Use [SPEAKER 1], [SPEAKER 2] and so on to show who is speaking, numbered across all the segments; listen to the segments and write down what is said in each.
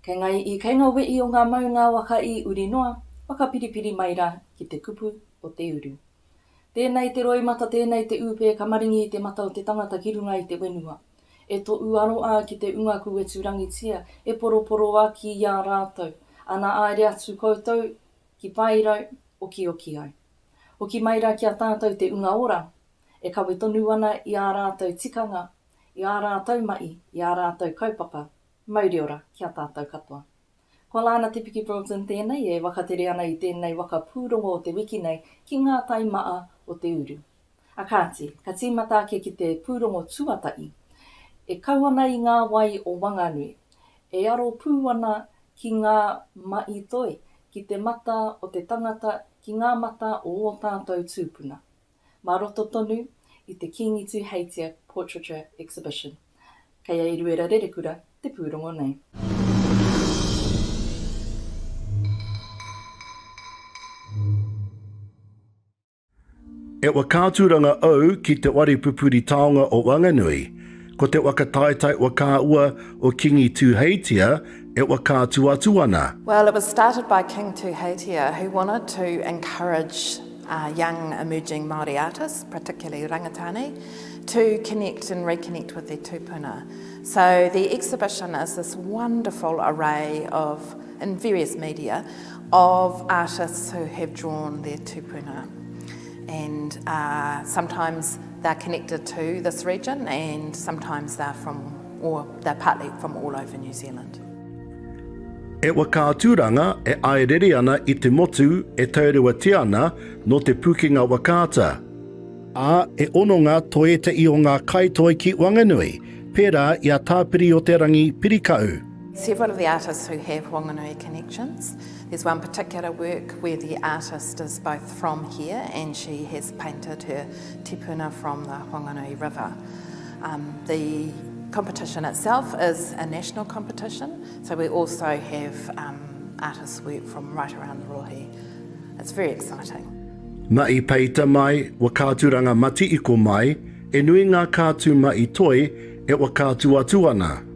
[SPEAKER 1] Kei ngā iʻi, kei ngā weʻi o ngā maunga waka i uri noa, whakapiripiri mai rā ki te kupu o te uru. Tēnei te roimata, tēnei te ūpē ka maringi i te mata o te tangata ki runga i te wenua. E toʻu aro a ki te unga kuwetu rangitia, e poroporo a ki i a rātou, ana aere atu koutou ki Paerau, okioki ai. Hoki mai ra ki a tātou te Unga Ora, e kawe tonu ana i ā rātou tikanga, i ā rātou mahi, i ā rātou kaupapa. Mauri ora ki a tātou katoa. Ko Lana Te Piki Broughton tēnei e wakatere ana i tēnei waka pūrongo o te wiki nei ki ngā tai maa o te uru. A kāti, ka tīmata ake ki te pūrongo tuatahi, e kau ana i ngā wai o Wanganui, E aro pū ana ki ngā maʻi toi, ki te mata o te tangata, ki ngā mata o ō tātou tūpuna. Mā roto tonu i te Kīngi Tūheitia Portraiture Exhibition, kei a Eruera Rerekura te pūrongo nei.
[SPEAKER 2] E wa ka turanga au ki te wari pupuri taonga o Wanganui. Ko te waka taetae wa ka ua o Kingi Tuuheitia e wa ka tu atu ana. Well it was started
[SPEAKER 3] by King Tuuheitia who wanted to encourage young emerging Māori artists, particularly Rangatani, to connect and reconnect with their tupuna. So the exhibition is this wonderful array of, in various media, of artists who have drawn their tupuna and sometimes they're connected to this region and sometimes they're from or they're partly from all over New Zealand.
[SPEAKER 2] E waka aturanga e aerere ana i te motu e taurewatia ana no te pukenga wakaata. A, e ono nga to etahi o nga kaitoi ki Wanganui, pera i a Tapiri-o-te-rangi Pirikau. Several of the artists
[SPEAKER 3] who have Whanganui connections. There's one particular work where the artist is both from here and she has painted her tipuna from the Whanganui River. Um, the competition itself is a national competition, so we also have um, artists work from right around the Rohe. It's very exciting. Ma i
[SPEAKER 2] peita mai, wa kāturanga mati i ko mai, e nui ngā kātu ma i toi, e wa kātu atu ana.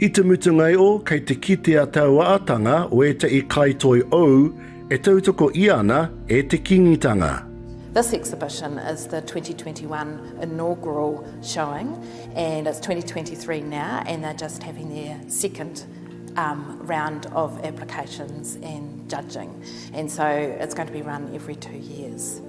[SPEAKER 3] I te mutunga
[SPEAKER 2] o, kei te kite a tauaatanga o etahi kaitoi ou e tautoko ia ana e te Kingitanga. This exhibition
[SPEAKER 3] is the 2021 inaugural showing and it's 2023 now and they're just having their second um, round of applications and judging and so it's going to be run every two years.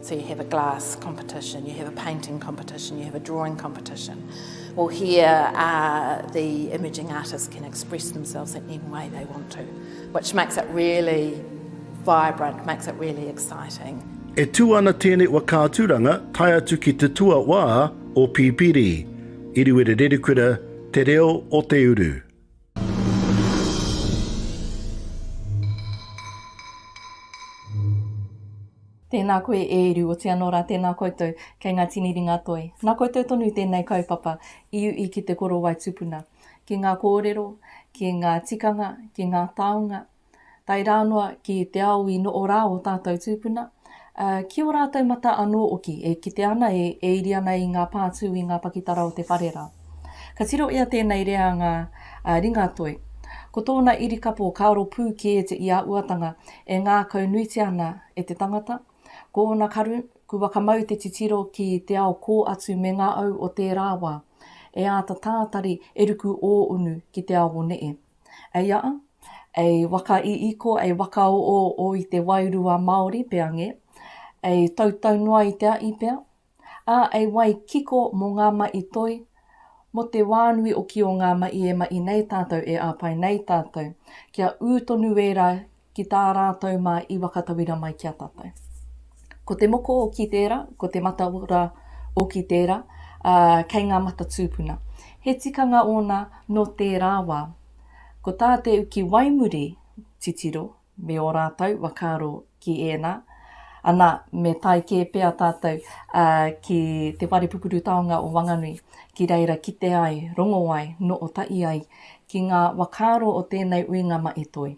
[SPEAKER 3] So you have a glass competition, you have a painting competition, you have a drawing competition. Well, here uh, the imaging artists can express themselves in any way they want to, which makes it really vibrant, makes it really exciting. E tū ana
[SPEAKER 2] tēnei whakaaturanga tae atu ki te tuawā o Pipiri, Iriwere Rerikura, Te Reo o Te Uru.
[SPEAKER 1] Tēnā koe e Eru, otii anō rā tēnā koutou kei ngā tini ringa toi. Nā koutou tonu tēnei kaupapa i uʻi ki te korowai tupuna, ki ngā kōrero, ki ngā tikanga, ki ngā taonga, tae rā noa ki te ao i noʻo rā ō tātou tūpuna, ā, ki ō rātou matā anō hoki, e kite ana, e, e iri ana i ngā pātū, i ngā pakitara o te whare rā. Ka tiro i a tēnei reanga a Ringatoi, ko tōna irikapo ka aro pū kē te iāuatanga e ngākau nuitia ana e te tangata, ko ōna karu, ku wakamau te titiro ki te ao kō atu me ngā au o tērā wā, e āta tātari e ruku ō unu ki te ao o neʻe. Eia, e waka iiko, e waka oo o i te wairua Maori pea nge, e tautau noa i te a'i pea, a e wai kiko mo nga ma'i toi, mo te wa nui o ki o nga ma'i e ma'i nei tatou e apai nei tatou, kia u tonu wera ki tā rātou mā i wakatauira mai ki a tātou. Ko te moko o ki tērā, ko te mataora o ki tērā, ā, kei ngā mata tūpuna. He tikanga ōna nō tērā wā. Ko tā te uki waimuri titiro me ō rātou whakaaro ki ēnā, anā, me tae kē pea tātou ki Te Whare Pupuru Taonga o Wanganui, ki reira kite ai, rongo ai, nootahi ai ki ngā whakaaro o tēnei uinga mahi toi.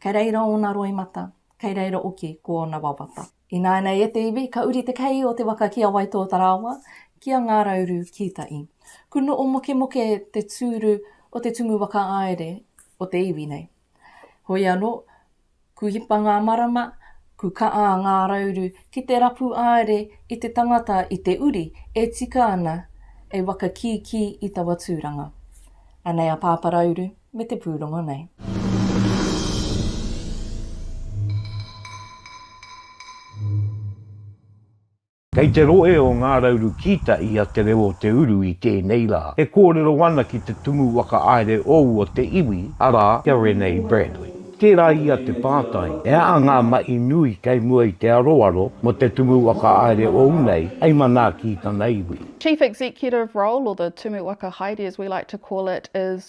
[SPEAKER 1] Kei reira ōna roimata, kei reira oki ko ōna wawata. Ināinei e te iwi, ka uri te kei o te waka ki a Waitōtarāwa, ki a Ngārauru Kītai. Kuno o Mokemoke te tūru o te tumu whakaāere o te iwi nei. Hoi anō, ku hipa ngā marama, ku ka'a a Ngārauru ki te rapu aere i te tangata i te uri e tika ana ei waka kīkī i tawa tūranga. Anei a Pāparauru. me te pūrongo nei.
[SPEAKER 4] Kei te rohe o Ngā Rauru Kīta i a Te Reo o Te Uru i tēnei rā, e kōrero ana ki te Tumu Whakahaere o ua te iwi, arā, kia Renee Bradley. Tērā ia te pātai, e aha ngā mahi nui kei mua i te aroaro mō te Tumu Whakahaere ou nei hei manaaki i tana iwi? Chief Executive
[SPEAKER 5] role, or the Tumu Whakahaere as we like to call it, is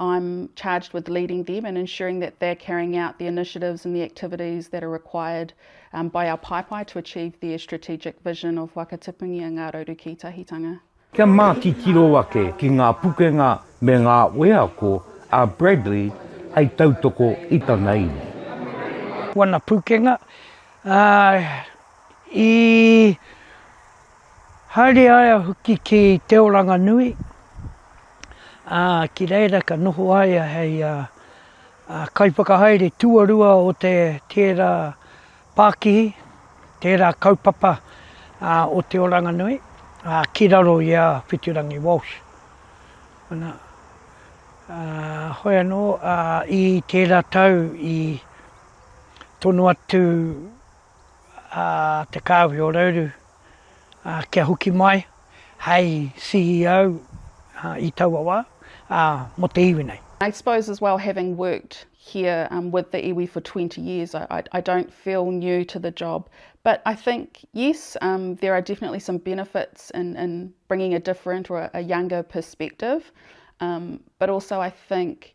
[SPEAKER 5] I'm charged with leading them and ensuring that they're carrying out the initiatives and the activities that are required um, by our paepae to achieve their strategic vision of Wakatipungi a Ngā Rauru Kītahitanga. Kia mā titiro
[SPEAKER 4] ake ki ngā pukenga me ngā wheako a Bradley hei tautoko i tana iwi. Wana pukenga,
[SPEAKER 6] uh, i Haere ai a Huki ki Te Oranganui, ā, ki reira ka noho a ia hei kaiwhakahaere tuarua o tērā pākihi, tērā kaupapa o Te Oranganui, ā, ki raro i a Whitirangi Walsh. Ana, ā, hoi anō, ā, i tērā tau i tono atu a Te Kāhui o Rauru kia hoki mai hei CEO i taua wā mō te iwi nei. I suppose as well
[SPEAKER 5] having worked here um, with the iwi for 20 years, I, I, I, don't feel new to the job. But I think, yes, um, there are definitely some benefits in, in bringing a different or a, a younger perspective. Um, but also, I think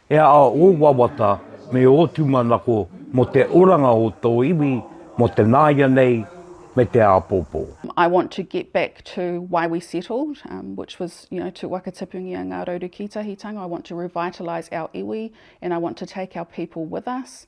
[SPEAKER 4] E aha ō wawata me ō tūmanako mō te oranga o tō iwi, mō te nāianei me te āpōpō? I want to get
[SPEAKER 5] back to why we settled, which was you know to wakatipungia ngā rauru kītahitanga, I want to revitalise our iwi and I want to take our people with us.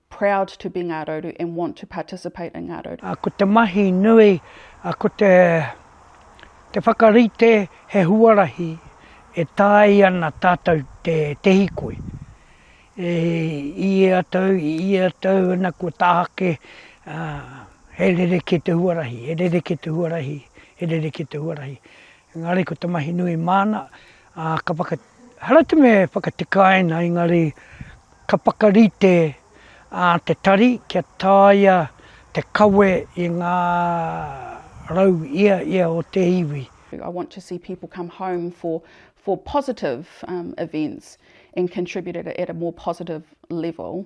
[SPEAKER 5] proud to be Ngā Rauru and want to participate in Ngā Rauru. Ko te mahi nui,
[SPEAKER 6] ko te te whakarite he huarahi e tae ana tātou te te hikoi. E i ia tau, i ia tau ana kua tāhake, he rerekē te huarahi, he rerekē te huarahi, he rerekē te huarahi. Engari ko te mahi nui māna, ā, ka whaka, haratu me whakatikaina, engari ka whakarite ā te tari kia taea te kawe i ngā rau ia ia o te iwi. I want to see
[SPEAKER 5] people come home for for positive events and contribute at a more positive level.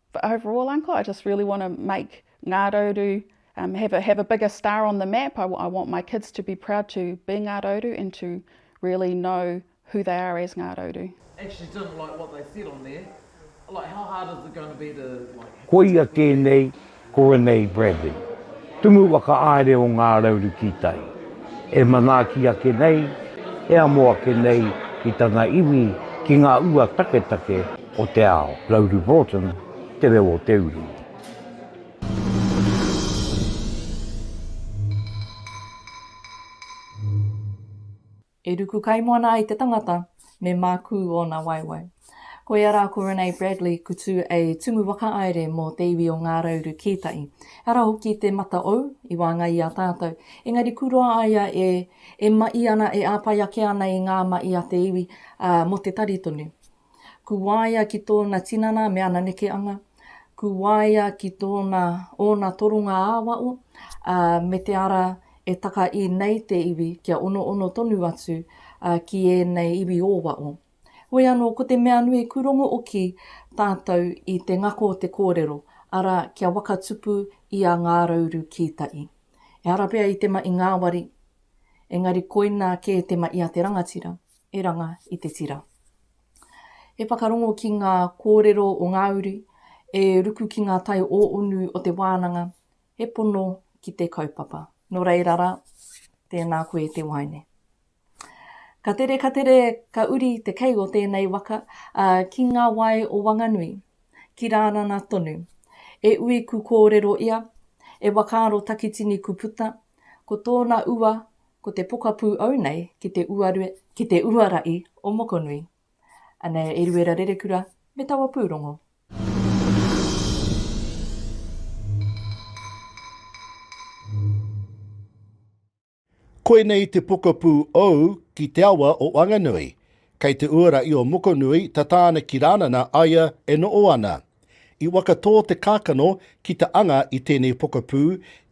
[SPEAKER 5] But overall uncle I just really want to make Ngā Rauru um, have, a, have a bigger star on the map. I, I want my kids to be proud to be Ngā Rauru and to really know who they are as Ngā Rauru. Actually didn't like what
[SPEAKER 7] they said on there. Like how hard is it going to be to like... Koia kē nei
[SPEAKER 4] ko Renee Bradley, tumu waka aere o Ngā Rauru ki tai. E manaaki ake nei, e amo ake nei ki tana iwi, ki ngā ua taketake, o te ao. Rauru Broughton, Te Reo o te Uru.
[SPEAKER 1] E ruku kaimoana ai te tangata, me mākū ōna waewae. Koia rā ko Renee Bradley Kutu a Tumu Whakahaere mō te iwi o Ngā Rauru Kītai. Ehara hoki te mata ou i waenga i a tātou, engari kuroa ai a e, e maʻi ana, e āpai ake ana i ngā maʻi a te iwi, ā, mō te tari tonu. Ku waea ki tōna tinana me ana nekeanga, ku waea ki tōna ōna toronga ā-wao, ā, me te ara e taka i nei te iwi kia onoono tonu atu ki ēnei iwi ō-wao. Hoi anō, ko te mea nui ku rongo oki tātou i te ngako o te kōrero, arā, kia waka tupu i a Ngā Rauru Kītai. Ehara pea i te maʻi ngāwari, engari koina kē te maʻi a te rangatira. Eranga i te tira. He whakarongo ki ngā kōrero o ngā uri e ruku ki ngā tai o unu o te wānanga, he pono ki te kaupapa. Nō reira rā, tēnā koe te waeine. Ka tere, ka tere, ka uri te kei o tēnei waka, ā, ki ngā wae o Wanganui, ki Rānana tonu. E ui ku kōrero ia, e wakaaro takitini ku puta, ko tōna ua Ko te pokapū au nei ki te uarue, ki te uara i o Mokonui. Anei a Eruera Rerekura me taua pūrongo.
[SPEAKER 2] Koinei te pokapū ou ki te awa o Wanganui. Kei te uara i o Mokonui, tata ana ki Ranana, aia e noʻo ana. I wakatō te kākano ki te anga i tēnei pokapū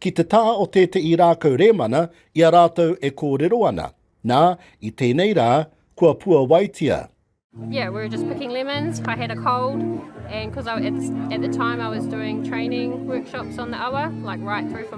[SPEAKER 2] ki te taha o tēteʻi rākau rēmana i a rātou e kōrero ana, nā, i tēnei rā, kua puawaitia. Yeah, we were just
[SPEAKER 8] picking lemons, I had a cold and because at the time I was doing training workshops on the awa, like right through from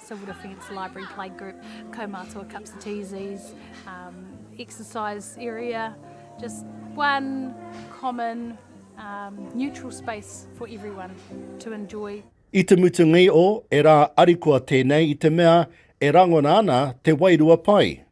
[SPEAKER 9] Silver Defence Library Playgroup, Kaumātua Cups of Teas, um, exercise area, just one common um, neutral space for everyone to enjoy. I te mutunga i
[SPEAKER 2] o, e rā arikoa tēnei i te mea e rangona ana te wairua pai.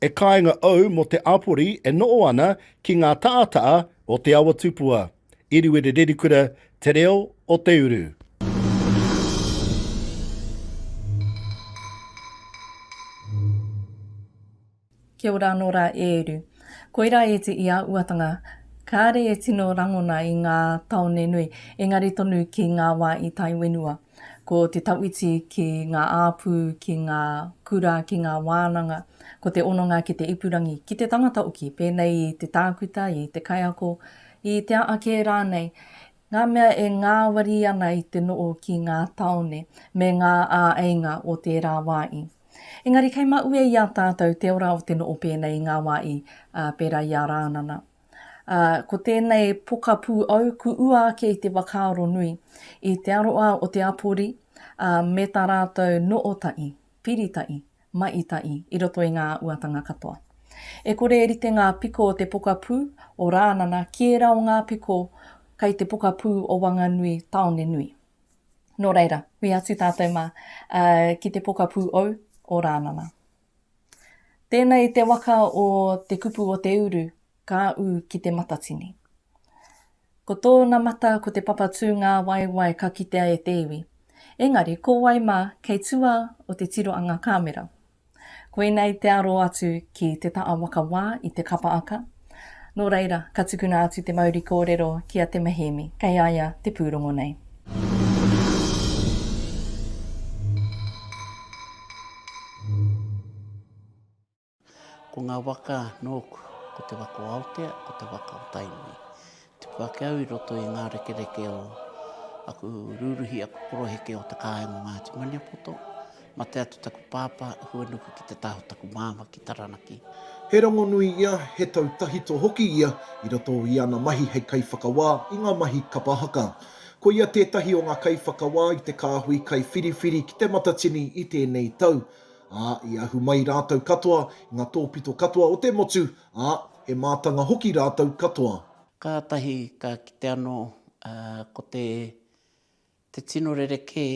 [SPEAKER 2] E kāinga au mō te āpori e noʻo ana ki ngā taʻataʻa o te awa tupua. Iriwiri Rerikura, Te Reo o te Uru.
[SPEAKER 1] Kia ora anō rā e Eru. Koirā e te ia uatanga, kāre e tino rangona i ngā taone nui, engari tonu ki ngā wā i tae whenua. Ko te tawhiti ki ngā āpū, ki ngā kura, ki ngā wānanga, ko te hononga ki te ipurangi, ki te tangata hoki, pēnei i te tākuta, i te kaiako, i te a ake rānei, ngā mea e ngāwari ana i te noho ki ngā tāone me ngā āeinga o tērā wā i. Engari kei maue i a tātou te ora o te noho pēnei i ngā wā i, ā, pērā i a Rānana. Ā, ko tēnei pokapū au ku ua ake i te whakaaro nui, i te aroa o te apori, ā, me tā rātou noo taʻi, piri taʻi, maʻi taʻi i roto i ngā uatanga katoa. E kore e rite ngā piko o te pokapū o Rānana ki ērā o ngā piko kai te pokapū o Wanganui tāone nui. Nō reira, hui atu tātou mā, ā, ki te pokapū ou o Rānana. Tēnei i te waka o te kupu o te uru, ka ū ki te matatini. Ko tōna mata ko te papa tū ngā waewae ka kitea e te iwi. Engari, ko wai mā kei tua o te tiro a ngā kāmera? Koinei te aro atu ki Te Ta'a Waka Wā i Te Kapa Aka, Nō reira, ka tukuna atu te mauri kōrero ki a Te Mihiemi, kei a ia te pūrongo nei.
[SPEAKER 10] Ko ngā waka nōku, ko te waka o Aotea, ko te waka o Tainui. Tuku ake au i roto i ngā rekereke o aku rūruhi, aku koroheke o te kāinga o Ngāti Maniapoto. Mate atu taku pāpā, huanuku ki te taha o taku māmā ki Taranaki. He rongonui
[SPEAKER 11] ia, he tau tahito hoki ia i roto i ana mahi hei kaiwhakawā i ngā mahi kapa haka. Ko ia tētahi o ngā kaiwhakawā i te kāhui kaiwhiriwhiri ki Te Matatini i tēnei tau, ā, i ahu mai rātou katoa i ngā tōpito katoa o te motu Ā, he mātanga hoki rātou katoa. Kātahi
[SPEAKER 10] ka kite anō ko te tino rerekē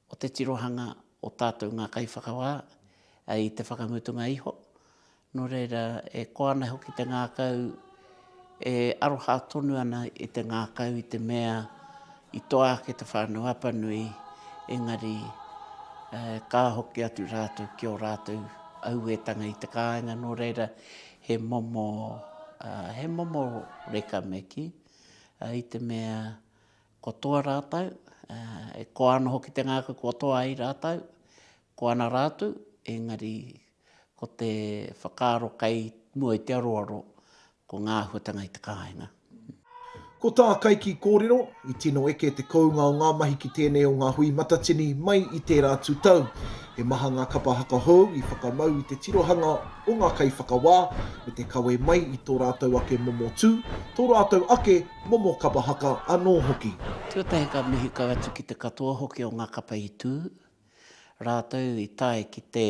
[SPEAKER 10] o te tirohanga o tātou ngā kaiwhakawā i te whakamutunga iho, nō reira e koa ana hoki te ngākau. E aroha tonu ana e te ngākau i te mea i toa ake te whānau Apanui, engari eh, ka hoki atu rātou ki ō rātou auētanga i te kāinga, nō reira he momo, ah, he momo reka me kī, ah, i te mea ko toa rātou, ah, e koa ana hoki te ngākau kua toa ai rātou, koa ana rātou, engari Ko te whakaaro kei mua i te aroaro, ko ngā āhuatanga i te kāinga. Ko
[SPEAKER 11] tā Kaiki kōrero, i tino eke te kounga o ngā mahi ki tēnei o ngā hui matatini mai i tērā atu tau. He maha ngā kapa haka hou i whakamau i te tirohanga o ngā kaiwhakawā me te kawe mai i tō rātou ake momo tū, tō rātou ake momo kapa haka anō hoki. Tuatahi ka mihi
[SPEAKER 10] kau atu ki te katoa hoki o ngā kapa i tū, Rātou i tae ki te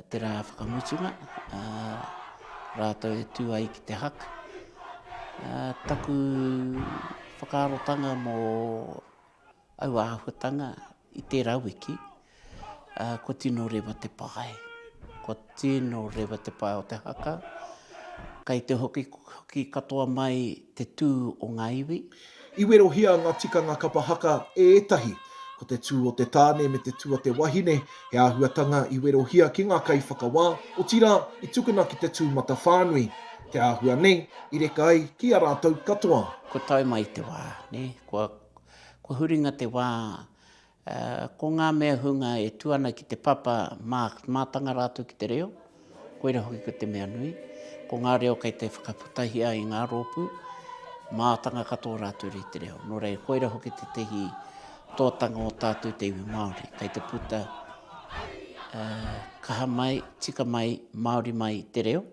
[SPEAKER 10] te rā whakamutunga, rātou e tū ai ki te hak. Taku whakaarotanga mō aua āhuatanga i tērā wiki, Kua tino rewa te pae. Kua tino rewa te pae o te haka. Kei te hoki katoa mai te tū o ngā iwi. I werohia
[SPEAKER 11] ngā tikanga kapa haka e ētahi. Ko te tū o te tāne me te tū a te wahine he āhuatanga i werohia ki ngā kaiwhakawā, otirā, i tukuna ki te tū matawhānui. Te āhua nei, i reka ai ki a rātou katoa. Kua tae mai te
[SPEAKER 10] wā, kua huringa te wā Ā, ko ngā mea hunga e tū ana ki te papa mā, mātanga rātou ki te reo, koirā hoki ko te mea nui. Ko ngā reo kei te whakaputahia i ngā rōpū, mātanga katoa rātou rei te reo. Nō reira, koirā hoki tētehi tōtanga o tātou te iwi Māori, kei te puta, ā, kaha mai, tika mai, Māori mai te reo.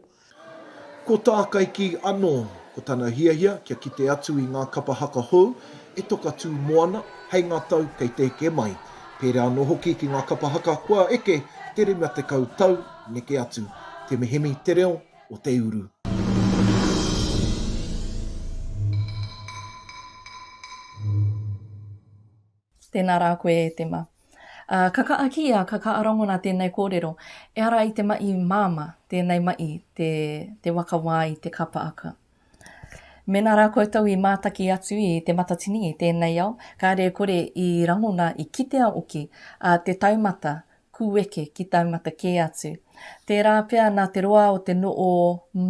[SPEAKER 10] Ko
[SPEAKER 11] Tākaiki anō, ko tana hiahia kia kite atu i ngā kapa haka hou e toka tū moana hei ngā tau kei te eke mai, pērā anō hoki ki ngā kapa haka kua eke te 50 tau neke atu. Te mihemi te reo o te uru.
[SPEAKER 1] Tēnā rā koe e te ma. Ā, ka kaʻa ki ia, ka kaʻa rangona tēnei kōrero, E ara i te maʻi māmā, tēnei maʻi, te, te waka wā i te kapa aka. Mēnā rā koutou i mātaki atu i Te Matatini i tēnei ao, kāre e kore i rangona, i kitea hoki, ā, te taumata, Kueke ki taumata kē atu. Tērā pea nā te roa o te no o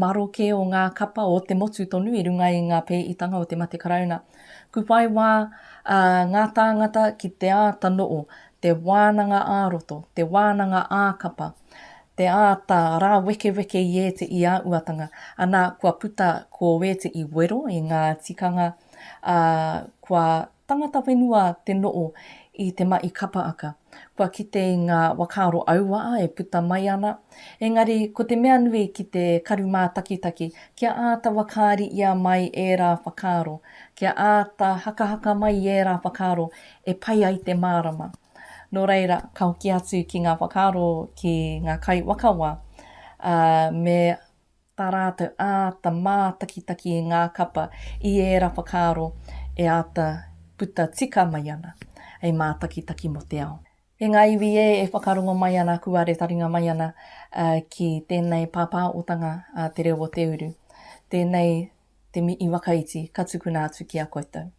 [SPEAKER 1] maro kē o ngā kapa o te motu tonu i runga i ngā pēitanga o te mate Karauna. Kuwhai wā a ngā tāngata ki te āta no o, te wānanga ā roto, te wānanga ā kapa, te āta rāwekeweke i ēteʻi a uatanga, anā kua puta ko ēteʻi wero i ngā tikanga a kua Tangata whenua te noo i te maʻi kapa aka. Kua kite i nga wakaaro auaa e puta mai ana. Engari ko te mea nui ki te karu maatakitaki kia aata wakaari ia mai era whakaaro, kia aata hakahaka mai i era whakaaro e pai ai te maarama. No reira ka hoki atu ki nga whakaaro ki nga kai wakawa, a me tā rātou āta mātakitaki i ngā kapa i ērā whakaaro e āta puta tika mai ana, hei mātakitaki mō te ao. E ngā iwi ē, e whakarongo mai ana, kua re taringa mai ana ki tēnei pāpāotanga a Te Reo o Te Uru, tēnei te mihi wakaiti ka tukuna atu ki a koutou.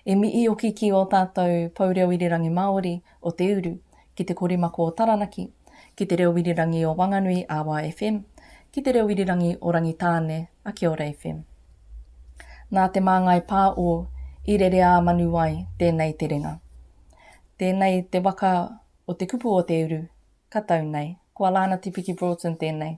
[SPEAKER 1] E mihi hoki ki ō tātou Pou Reo Irirangi Māori o Te Uru, ki Te Korimako o Taranaki, ki Te Reo Irirangi o Wanganui a wa FM, ki Te Reo Irirangi o Rangitāne a Kia Ora FM. Nā Te Māngai Pā o Irereāmanuwai tēnei terenga. Tēnei te waka o te kupu o Te Uru, ka tau nei. Ko Alana Tipiki Broughton tēnei.